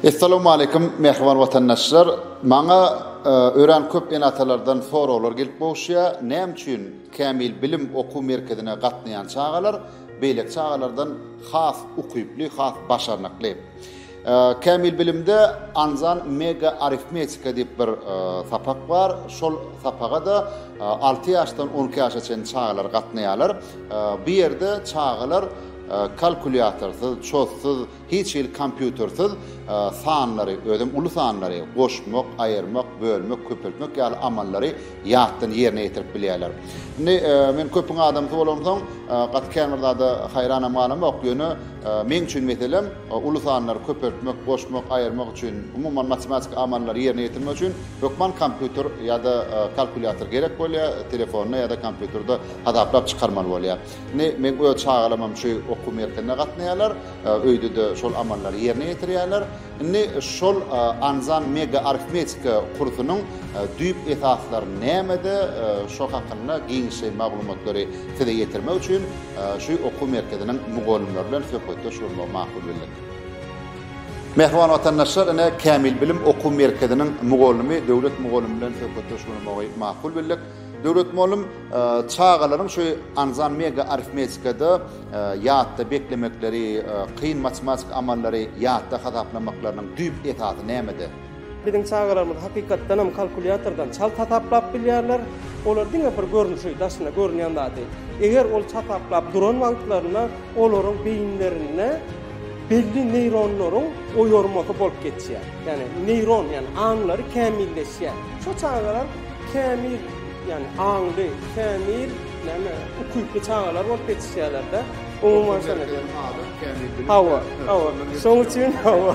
Essalamu aleýkum mähriban watandaşlar. Maňa e, örän köp ene-atalardan soraglar gelip gowuşýar. Näme üçin Kämil bilim okuw merkezine gatnaýan çagalar beýleki çagalardan has ukyply, has başarnykly? Kämil bilimde Anzan mega arifmetika diýip bir sapak bar. Şol sapaga-da alty ýaşdan on iki ýaşa çenli çagalar gatnaýarlar. Bu ýerde çagalar kalkulýatorsyz, çozsuz, hiç hili kompýutersiz sanlary, özem uly sanlary, goşmak, aýyrmak, bölmek, köpeltmek ýaly amallary ýatdan ýerine ýetirip bilýärler. Indi men köpüň adamsy bolansoň, gaty käbir zada haýranam galamok, ýöne meň üçin meselem, Uly sanlary köpeltmek, goşmak, aýyrmak üçin, umuman matematiki amallary ýerine ýetirmek üçin hökman kompýuter ýa-da kalkulýator gerek bolýar, telefonda ýa-da kompýuterde hasaplap çykarmaly bolýar. Indi meň öz çagalamam şu okuw merkezine gatnaýarlar, öýde-de şol amallary ýerine ýetirýärler. Indi şol Anzan mega arifmetika kursunyň düýp esaslary nämede, şo hakynda giňişleýin maglumatlary size ýetirmek üçin, Şu okuw merkeziniň mugallymlary bilen söhbetdeş bolmagy makul bildik. Mähriban watandaşlar, ine, Kämil bilim okuw merkeziniň mugallymy Döwlet mugallym bilen söhbetdeş bolmagy makul bildik. Döwlet mugallym çagalaryň şu anzan mega arifmetikada ýatda beklemekleri, kyn matematiki amallary ýatda hasaplamaklarynyň düýp esasy nämede? Biziň çagalarymyz hakykatdanam kalkulýatordan çalt hasaplap bilýärler. Olar diňe bir görnüşi, daşynda görünýän zady, eger ol hasaplap duran wagtlarynda olaryň beýinlerinde belli neýronlaryň oýarmasy bolup geçýär. Ýagny neýron, ýagny aňlary kämilleşýär. Şo çagalar kämil, ýagny aňly, kämil, näme, ukyply çagalar bolup ýetişýärler-de. Umuman şeýle. Hawa, hawa. Şoň üçin hawa.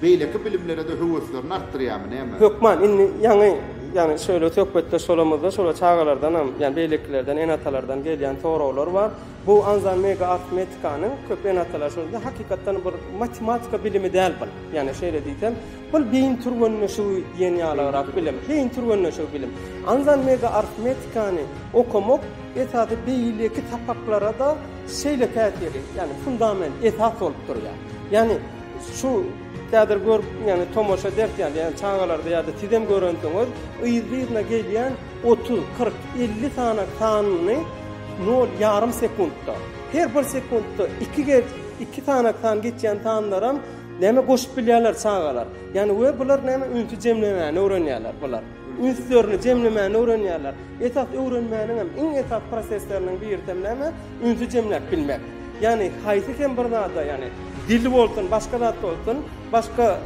Beýleki bilimlere-de höweslerini artdyrýarmy, näme? Hökman, indi ýaňy, ýagny şeýle söhbetdeş bolamyzda, şolar çagalardanam, ýagny beýlekilerden, ene-atalardan gelýän soraglar bar. Bu anzan mega arfmetikanyň, köp ene-atalar şuny diýýär, hakykatdan bir matematika bilimi däl bul. Ýagny şeýle diýsem, bul beýin türgenleşigi diýen ýalygrak bilim. Beýin türgenleşigi bilim. Anzan mega arfmetikany okamak esasy beýleki sapaklara-da şeýle täsiri, ýagny fundament, esas bolup durýar. Ýagny. Şu kädir görüp ýagny tomaşa ederki ýaly ýagny çagalarda ýa-da sizem görensiňiz yzly-yzyna gelýän otuz, kyrk, elli sany sanyny nol ýarym sekuntda her bir sekuntda iki gez iki sany san geçýän sanlaram näme goşup bilýärler çagalar ýagny we bular näme ünsi jemlemäni öwrenýärler bular. ünslerini jemlemäni öwrenýärler. Esas öwrenmäniň hem iň esasy prosesleriniň birisem näme? Ünsi jemläp bilmek. Ýagny haýsy hem bir zada, ýagny dil bolsun, başga zat bolsun, başga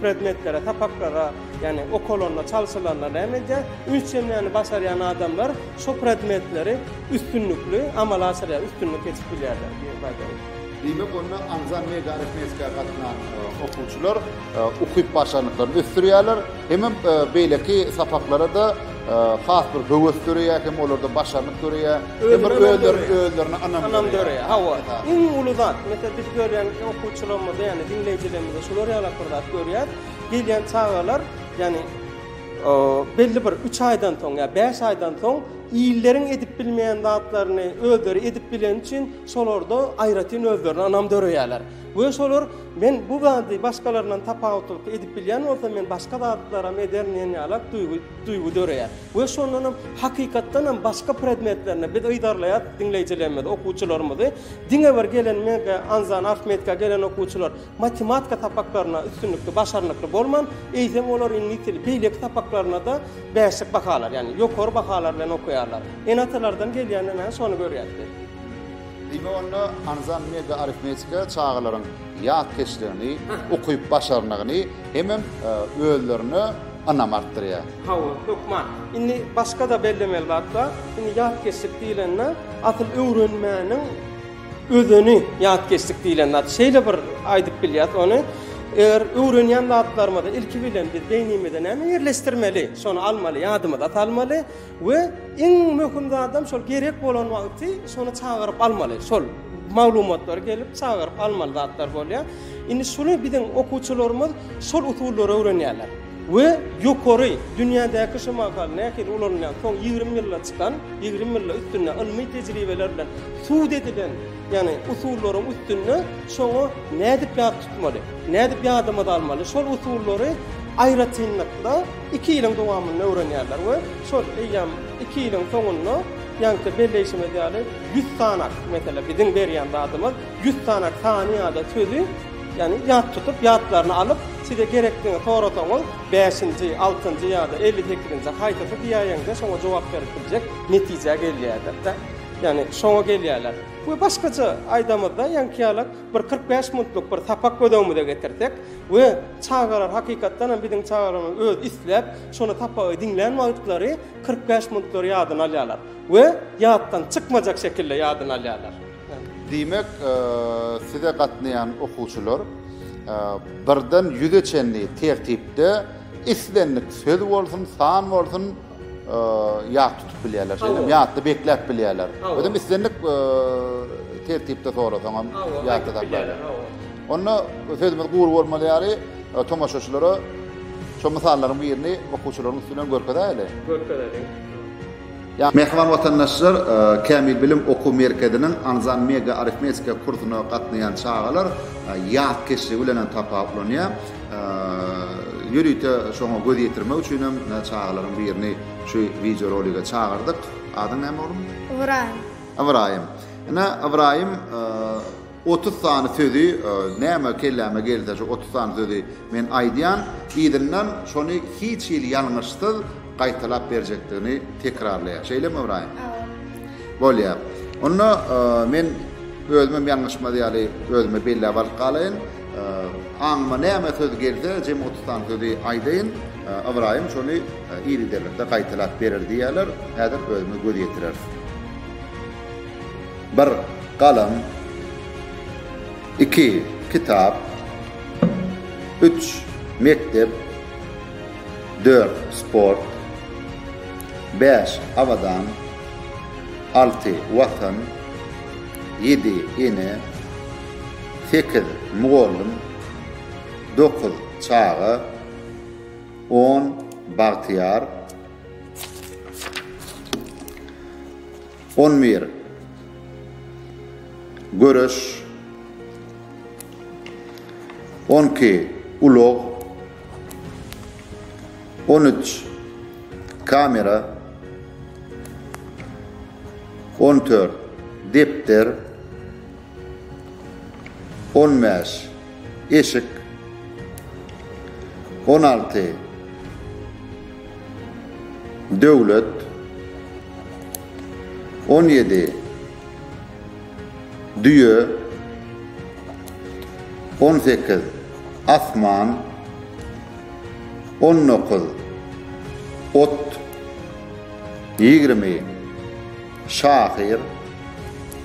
predmetlere, sapaklara, ýagny okalanda, çalşylanda näme edýär? Üns jemläni başarýan adamlar şo predmetleri üstünlikli amala aşyrýar, üstünlik geçip bilýärler. Diýmek, onda aňzan media arifmetikaya gatnan okuwçylar ukyp-başarnyklaryny ösdürýärler, hemem beýleki sapaklara-da has bir höwes döreýär, hem olarda başarnyk döreýär, hem bir özleri özlerine ynam döreýär. Hawa, iň uly zat, meselem, biz görýän okuwçylarymyzda, ýagny diňleýjilerimizde şular ýaly bir zat görýäs, gelýän çagalar, ýagny belli bir üç aýdan soň ýa bäş aýdan soň illeriň edip bilmeýän zatlaryny özleri edip bileni üçin şolarda aýratyn özlerine ynam döreýärler. We şolar, Men bu zady başgalaryndan tapawutlylykda edip bilýän bolsam, men başga zatlaram ederin diýen ýaly duýgy, duýgy döreýär. We şondan hem, hakykatdan hem başga predmetlerinde biz yzarlaýarys diňleýjilerimizi, okuwçylarymyzy. Diňe bir gelen mega, anzan, arfmetika gelen okuwçylar matematika sapaklarynda üstünlikli, başarnykly bolman, eýsem olar iňlis dili, beýleki sapaklarynda-da bäşlik bahalar, ýagny ýokary bahalar bilen okaýarlar. Ene-atalardan gelýände näme, şony görýäs biz. Diňe onda Anzan Mega Arifmetika çagalaryň ýatkeşligini, ukyp-başarnygyny hemem özlerine ynamy artdyrýar. Hawa, hökman. Indi başga-da bellemeli zat bar. Indi ýatkeşlik diýlende, asyl öwrenmäniň özeni ýatkeşlik diýlen zat. Şeýle bir aýdyp bilýäs ony, eger öwrenýän zatlarymyzy ilki bilen biz beýnimizde näme ýerleşdirmeli, şony almaly, ýadymyza salmaly. We iň möhüm zadam şol gerek bolan wagty şony çagyryp almaly. Şol maglumatlary gelip çagyryp almaly zatlar bolýar. Indi şuny biziň okuwçylarymyz şol usullary öwrenýärler. We ýokary dünýädäki şu mahal nähili ulanylýan soň ýigrimi ýylda çykan, ýigrimi ýylda üstünde ylmy tejribeler bilen subut edilen, ýagny usullaryň üstünde şoňa nädip ýat tutmaly, nädip ýadymyza almaly şol usullary aýratynlykda Iki ýylyň dowamynda öwrenýärler we şol eýýäm iki ýylyň soňunda ýaňky belleýşimiz ýaly ýüz sanak, meselem, biziň berýän zadymyz ýüz sanak sany ýa-da sözi, ýagny ýat tutup, ýatlaryna alyp, size gerekdigini sorasaňyz, bäşinji, altynjy ýa-da elli sekizinji haýsysy diýäýeňde şoňa jogap berip biljek netijä gelýärler-de. Ýagny şoňa gelýärler. We başgaça aýdamyzda ýaňky ýalak. Bir kyrk bäş funtlyk bir sapak göz öňümize getirsek we çagalar hakykatdan hem biziň çagalarymyz öz isläp şony sapagy diňlän wagtlary kyrk bäş funtlary ýadyna alýarlar we ýatdan çykmajak şekilde ýadyna alýarlar. Diýmek, size gatnaýan okuwçylar birden ýüze çenli tertipde islendik söz bolsun, san bolsun, ýat tutup bilýärler, şeýdem ýatda bekläp bilýärler. Özem islendik tertipde sorasaňam ýatda saklaýarlar. Onda sözümiz gury bolmaly ýaly, tomaşaçylara şu mysallaryň birini okuwçylaryň üstünden görkezäýeli. Görkezeliň. Mähriban watandaşlar, Kämil bilim okuw merkeziniň Anzan mega arifmetika kursuna gatnaýan çagalar ýatkeşligi bilen hem tapawutlanýar. Ýörite şoňa göz ýetirmek üçinem çagalaryň birini şu wideo rolige çagyrdyk. Adyň näme oglum? Ybraýym. Ybraýym. Ine Ybraýym otuz sany sözi näme kelläme gelse şu otuz sany sözi men aýdýan. Yzyndan şony hiç hili ýalňyşsyz gaýtalap berjekdigini tekrarlaýar. Şeýlemi Ybraýym? Hawa. Bolýar. Onda men özümem ýalňyşmaz ýaly özüme belläp alyp galaýyn. Aňyma näme söz gelse, jem otuz sany sözi aýdaýyn, Ybraýym şony ir giderlikde gaýtalap berer diýýärler, häzir özümiz göz ýetireris. Bir galam, iki kitap, üç mekdep, dört sport, bäş abadan, alty watan, ýedi ene, sekiz mugallym, dokuz çaga, on bagtyýar, on bir göreş, on iki ulag, on üç kamera, on dört depder, On bäş, eşik. On alty, döwlet. On ýedi, düýe. On sekiz, asman. On dokuz, ot. Ýigrimi, şahyr.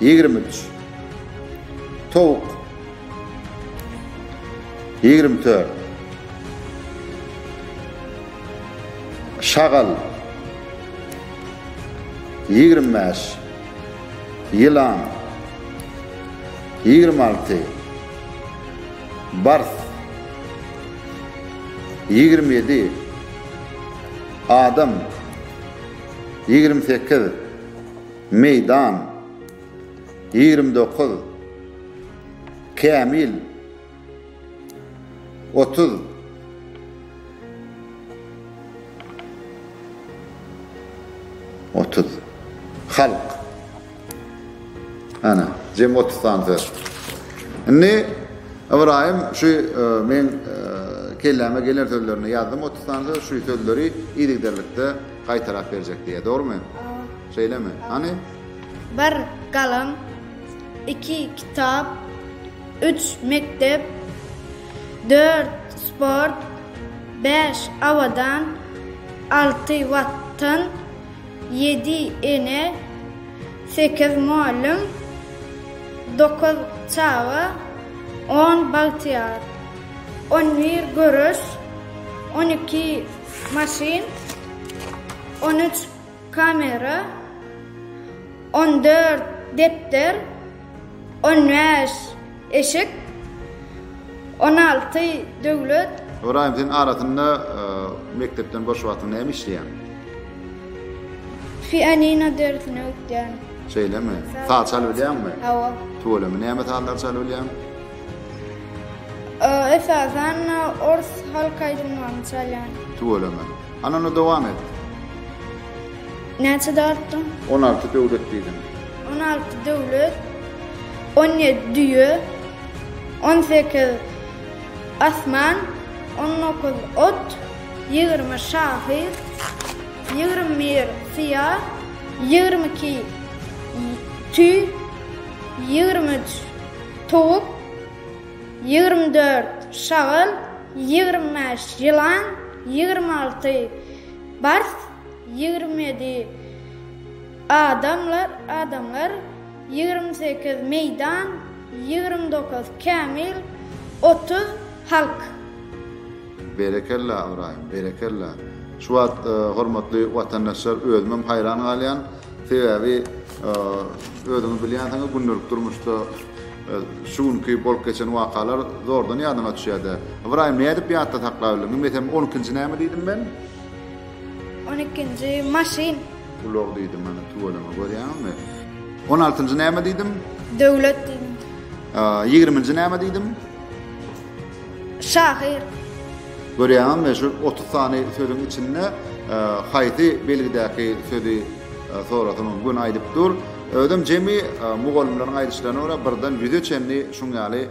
Ýigrimi üç. Towuk. Ýigrimi dört. Şagal. Ýigrimi bäş. Ýylan. Ýigrimi alty. Bars. Ýigrimi ýedi. Adam. ýigrimi sekiz, Meýdan, ýigrimi dokuz, Kämil, otuz, otuz, Halk. Ana, jem otuz sany söz. Indi Ybraýym şu e, men e, kelläme gelen sözlerini ýazdym otuz sany söz, şu sözleri yzygiderlikde gaýtalap berjek diýýär, dogrumy? Şeýlemi? Hany? Bir galam, iki kitap, üç mekdep, dört sport, beş awadan, alty watan, Ýedi ene, sekiz mugallym, dokuz çaga, on bagtyýar, on bir göreş, on iki maşyn, on üç kamera, on dört depder, On bäş eşik, on alty döwlet. Ybraýym sen arasynda mekdepden boş wagtyň näme işleýäň? Pianino dersini öwtýän. Şeýlemi? Saz çalyp bilýäňmi? Hawa. Tüweleme näme sazlar çalyp bilýäň? Esasan ors halk aýdymlaryny çalýan. Tüweleme. Hany onda dowam et. Näçe dartdyň? On alty döwlet diýdim. On alty döwlet, on ýedi düýe, on sekiz asman, on dokuz ot, ýigrimi şahyr, ýigrimi bir syýa, ýigrimi iki tüý, ýigrimi üç towuk, ýigrimi dört şagal, ýigrimi bäş ýylan, ýigrimi alty bars, Ýigrimedi adamlar, adamlar, Ýigrim sekiz meýdan, Ýigrim dokuz kämil, Otuz halk. Berekella Ybraýym, berekella! Şu wagt hormatly watandaşlar özümem haýran galýan, sebäbi özüňiz bilýänsiňiz gündelik durmuşda şu günki bolup geçen wakalar zordan ýadyňa düşýärde. Ybraýym nädip ýatda saklap bildiň? Bilmesem on ikinji näme diýdim men? On ikinji, maşyn. Ulag diýdim, ana, tüweleme, görýäňizmi? On altynjy näme diýdim? Döwlet diýdim. Ýigriminji näme diýdim? Şahyr. Görýäňizmi, şu otuz sany sözüň içinde haýsy belgidäki sözi sorasam hem gün aýdyp dur. Özüm jemi mugallymlaryň aýdyşlaryna görä birden ýüze çenli şuň ýaly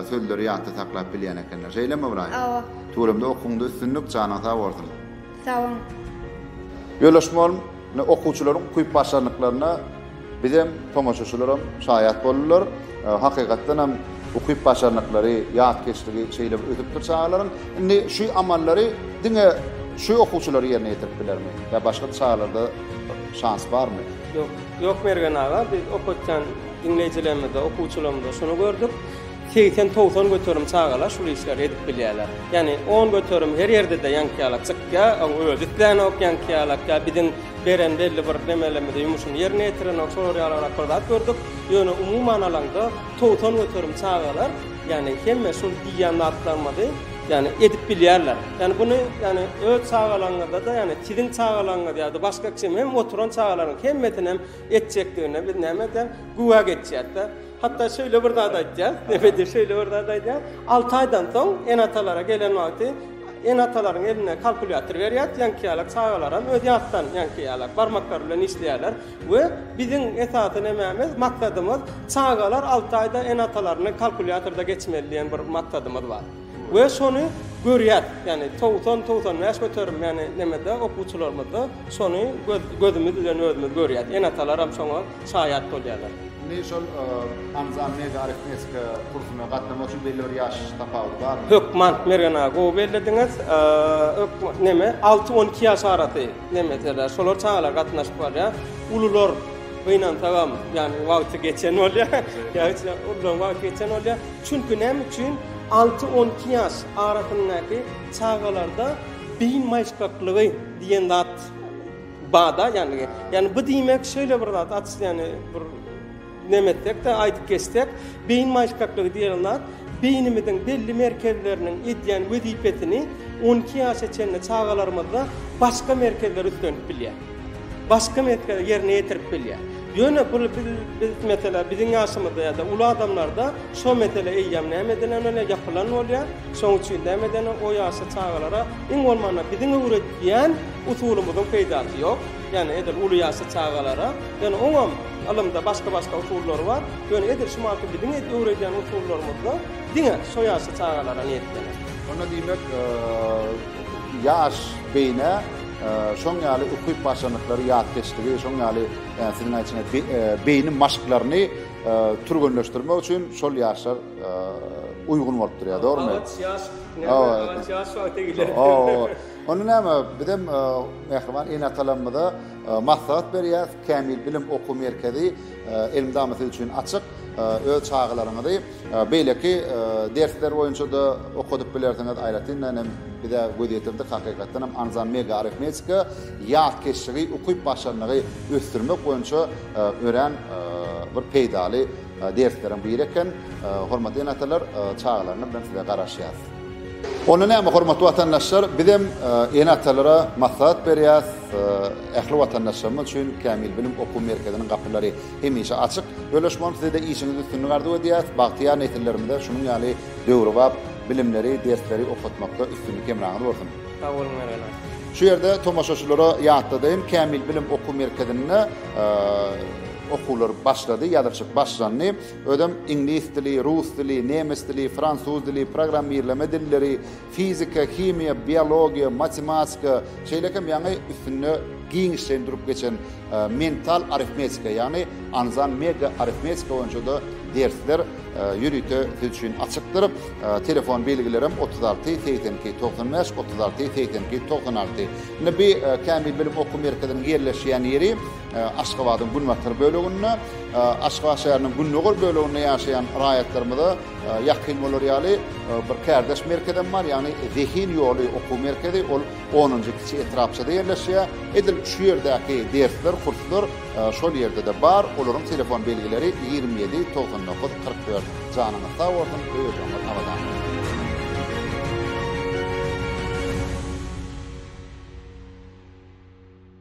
sözleri ýatda saklap bilýän ekenler. Şeýlemi, Ybraýym? Hawa. Tuweleme okuwňda üstünlik janyň sag bolsun. Sagboluň. Ýoldaşym ol ne okuwçylaryň ukyp başarnyklaryna bizem tomaşaçylaram şaýat boldylar. Hakykatdanam ukyp başarnyklary ýatkeşligi şeýle bir ösüpdir çagalaryň. Indi şu amallary diňe şu okuwçylar ýerine ýetirip bilermi? Ýa başga çagalarda şans barmy? Ýok Ýok Mergen aga biz okatýan diňleýjilerimizde okuwçylarymyzda şuny gördük. Segsen-togsan göterim çagalar şul işleri edip bilýärler. Ýagny on göterim her ýerde-de ýaňky ýalak çykýa, oň özi islenok ýaňky ýalak ýa biziň beren belli bir nemelerimizi ýumuşyny ýerine ýetirenok şolar ýalyrak bir zat gördük. Ýöne umuman alaňda togsan göterim çagalar ýagny hemme şul diýýän zatlarymyzy ýagny edip bilýärler. Ýagny buny ýagny öz çagalaňyzda-da ýagny siziň çagalaňyz ýa-da başga kim hem oturan çagalaryň hemmesinem etjekdigine biz näme edýäs? Güwä geçýäs-de. Hatda şeýle bir zat aýtýar, nebede şeýle bir zat aýdýar. 6 aýdan soň ene-atalara gelen wagty ene-atalaryň eline kalkulýator berýär, ýaňky ýalak çagalaram öz ýatdan ýaňky ýalak barmaklary bilen işleýärler we biziň esasy nemämiz, maksadymyz çagalar 6 aýda ene-atalaryny kalkulýatorda geçmeli diýen bir maksadymyz bar. We şony görýär, ýagny togsan, togsan bäş göterim, ýagny nemede, okuwçylarymyzda şony göz, gözümiz bilen özümiz görýäs. Ene-atalaram şoňa şaýat bolýarlar. Indi şol Anzan Mega arifmetika kursyna gatnamak üçin belli bir ýaş tapawudy barmy? Hökman, Mergen aga, gowy bellediňiz. Hökman, neme, alty, on iki ýaş arasy, neme, derler, şolar çagalar gatnaşyp barýar. Ulular gynansagam, ýagny wagty geçen bolýar, ýa hiç, uludan wagty geçen bolýar. Çünki näme üçin alty-on iki ýaş arasyndaky çagalarda beýin maýyşgaklygy diýen zat bada, ýagny, ýagny bu diýmek şeýle bir zat, at, ýagny bir neme etsek-de, aýdyp geçsek, beýin maýyşgaklygy diýen zat beýnimiziň belli merkezleriniň edýän wezipesini on iki ýaşa çenli çagalarymyzda başga merkezler üstlenip bilýär. başga mesgede ýerine ýetirip bilýär. Ýöne bul biz biz meselä biziň ýaşymyzda ýa-da uly adamlarda şo mesele eýýäm näme edilen bolýar, ýapylan bolýar. Şonuň üçin näme eden o ýaşly çagalara iň bolmanda biziň öwredýän usulymyzyň peýdasy ýok. Ýani edil uly ýaşly çagalara, ýöne oňam ylymda başga-başga usullary bar. Ýöne edil şu manky biziň edip öwredýän usullarymyzda diňe şo ýaşly çagalara niýetlenip. Onda diýmek ýaş beýnä. Şoň ýaly ukyp başarnyklary, ýatkeşligi, şoň ýaly siziň aýtýan beýni maşklaryny türgenleşdirmek üçin şol ýaşlar uýgun bolup durýar, dogrumy? Gabat ýaş, gabat ýaş wagty gelýär. Hawa. Onda näme, biz hem mähriban ene-atalarymyza maslahat berýäris, Kämil bilim okuw merkezi Elmydama siz üçin açyk. Öz çagalaryňyzy beýleki dersler boýunça-da okadyp bilersiňiz. Aýratyndan hem bize göz ýetirdik, hakykatdan hem Anzan Mega Arifmetika ýatkeşligi, ukyp-başarnygy ösdürmek boýunça örän bir peýdaly dersleriň biri eken. Hormatly ene-atalar, çagalaryňyz bilen size garaşýas. Onda näme, hormatly watandaşlar, bizem ene-atalara maslahat berýäs. Ähli watandaşlarymyz üçin Kämil bilim okuw merkeziniň gapylary hemişe açyk. Bölüşip bolan size-de işiňizde üstünlik arzuw edýäris. Bagtyýar nesillerimize şunuň ýaly döwrebap bilimleri, dersleri okatmakda üstünlik hemraňyz bolsun! Sag boluň Mergen. Şu ýerde tomaşaçylara ýatladaýyn, Kämil bilim okuw merkezinde okuwlar başlady, ýazylşyk başlandy. Özem iňlis dili, rus dili, nemes dili, fransuz dili, programmirleme dilleri, fizika, himiýa, biologiýa, matematika, şeýle hem ýaňy üstünde giňişleýin durup geçen mental arifmetika, ýagny anzan mega arifmetika boýunça-da dersler ýörite siz üçin açykdyr. Telefon belgilerim otuz alty, segsen iki, togsan bäş, otuz alty, segsen iki, togsan alty. Indi bi Kämil bilim okuw merkeziniň ýerleşýän ýeri Aşgabadyň günbatar böleginde, Aşgabat şäheriniň gündogar böleginde ýaşaýan raýatlarymyza Ýakyn bolar ýaly bir kärdeş merkezem bar, ýagny Zehin ýoly okuw merkezi, ol onunjy kiçi etrapçada ýerleşýär. Edil şu ýerdäki dersler, kurslar şol ýerde-de bar. Olaryň telefon belgileri ýigrimi ýedi, togsan dokuz, kyrk dört. Janyňyz sag bolsun, öý-ejeňiz abadan bolsun!